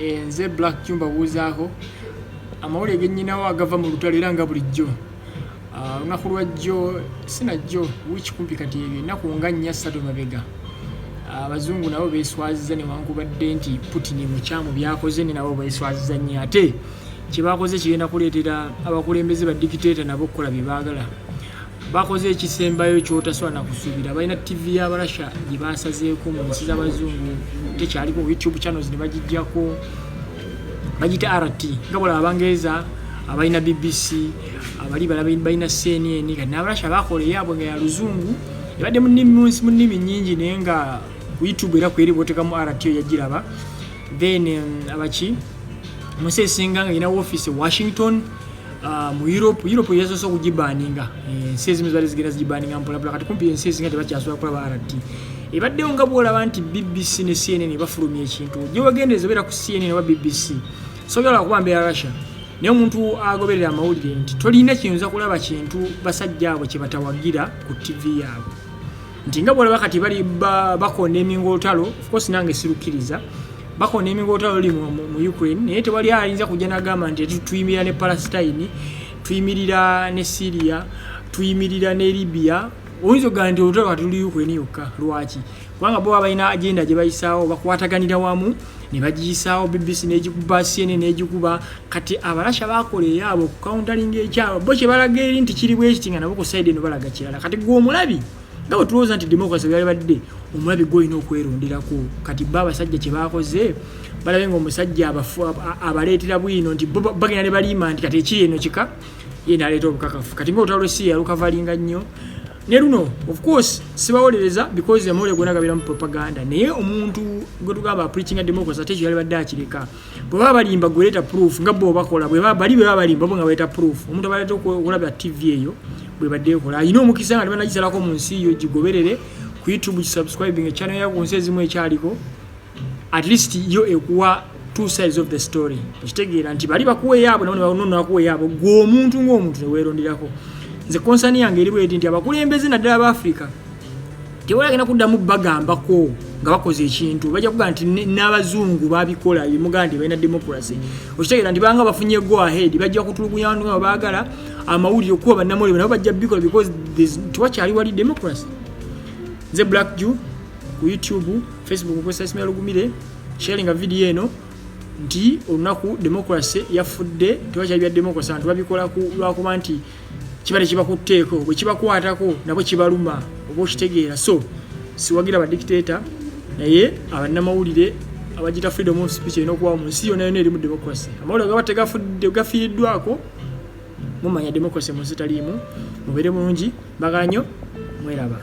Eh, nze black jumba buuzaako amawulire genyinawo agava mu lutalo era nga bulijjo ah, olunaku lwajjo sinajjo wiki kumpi kati ebyo ennaku nga nnya ssatu mabega ah, abazungu nabo beswaziza newankubadde nti putin mukyamu byakoze ne nabo beswaziza nnyo ate kyebakoze kigenda kuleetera abakulembeze ba dikiteeta nabo okukola bye baagala bakoze ekisembayo kyotasobola nakusuubira balina ttivi ya barasha gye basazeeko mu nsi z'abazungu tekyaliko youtube channels ne bagijjako bagita rt nga bola abangereza abalina bbc abali balina cnn kati nabarasha bakola eyaabwe nga ya luzungu ebadde mu nnimi nyingi naye nga youtube era kweri bwotekamu rt yagiraba then um, abaki mu nsi esinga nga yina wofiisi e washington Ah, mu europe europe yasoose okugibaninga eh, ensi ezimu zibadde zigenda zigibaninga mpolapula kati kumpi ensi ezinga tebakyasobola kulaba rt ebaddewo nga bwolaba nti bbc ne cnn bafulumya ekintu gyewagendereza obeera ku cnn oba bbc soyala kuba mbeera russia naye omuntu agoberera amawulire nti tolina kiyinza kulaba kintu basajja abo kyebatawagira ku ttivi yaabwe nti nga bwolaba kati bali bakonda eminga olutalo ofcourse nange sirukkiriza bakonda eminga olutalo luli mu ukraine naye tewali ayinza kujja nagamba nti tuyimirira ne palestine tuyimirira ne syria tuyimirira ne libya oyinza okugamba nti olutalo kati luli ukraine yokka lwaki kubanga bo balina agenda gye bayisaawo bakwataganira wamu ne bagiyisaawo bbc n'egikuba cnn n'egikuba kati abarasha bakola eyaabwe okukauntalinga ekyabwe bo kye balaga eri nti kiri bwekiti nga nabo ku saidi eno balaga kirala kati gwe omulabi nga bwe tulowooza nti democracy byali badde omulabi gwolina okwerundirako kati bo abasajja kye baakoze balabe nga omusajja abaleetera bwino nti bagenda ne baliima nti kati ekiri eno kika ye naleeta obukakafu kati nga olutalo lwesiya lukavalinga nnyo ne luno of course sibawolereza because amawulire gona gabera mu propaganda naye omuntu gwe tugamba preaching democracy ate kyeyali badde akireka bwe baba balimba gweleeta proof nga bo bakola bwe bali bwe baba balimba bo nga baleeta proof omuntu abaleeta okulaba tv eyo bwe badde ekola alina omukisa nga tebanagisalako mu nsi yo gigoberere ku youtube gisubscribing ekyana yaku nsi ezimu ekyaliko at least yo ekuwa two sides of the story ekitegeera nti bali bakuweyaabo nabakuweyaabo gwe omuntu ngaomuntu neweronderako nze konsani yange eri bweti nti abakulembeze naddala ba africa tebalagenda kuddamu bagambako nga bakoze ekintu bajja kugaa nti n'abazungu babikola ebimugaa nti balina democracy okitegeera nti banga bafunye go ahead bajja kutulugunya bantu nga baagala amawulire okuba bannamawulire nabo bajja bikola because tewakyali wali democracy nze black jew ku youtube facebook okozesa esimu ya lugumire sharinga vidiyo eno nti olunaku democracy yafudde tewakyali bya democracy abantu babikola lwakuba nti kiba tekibakutteeko bwe kibakwatako nabo kibaluma oba okitegeera so siwagira badikitaeta naye abannamawulire abagita freedom of speech erina okubawo mu nsi yona yona erimu democracy amawulire gaba tegafudde gafiiriddwako mumanya democracy mu nsi taliimu mubeere bulungi bagala nyo mweraba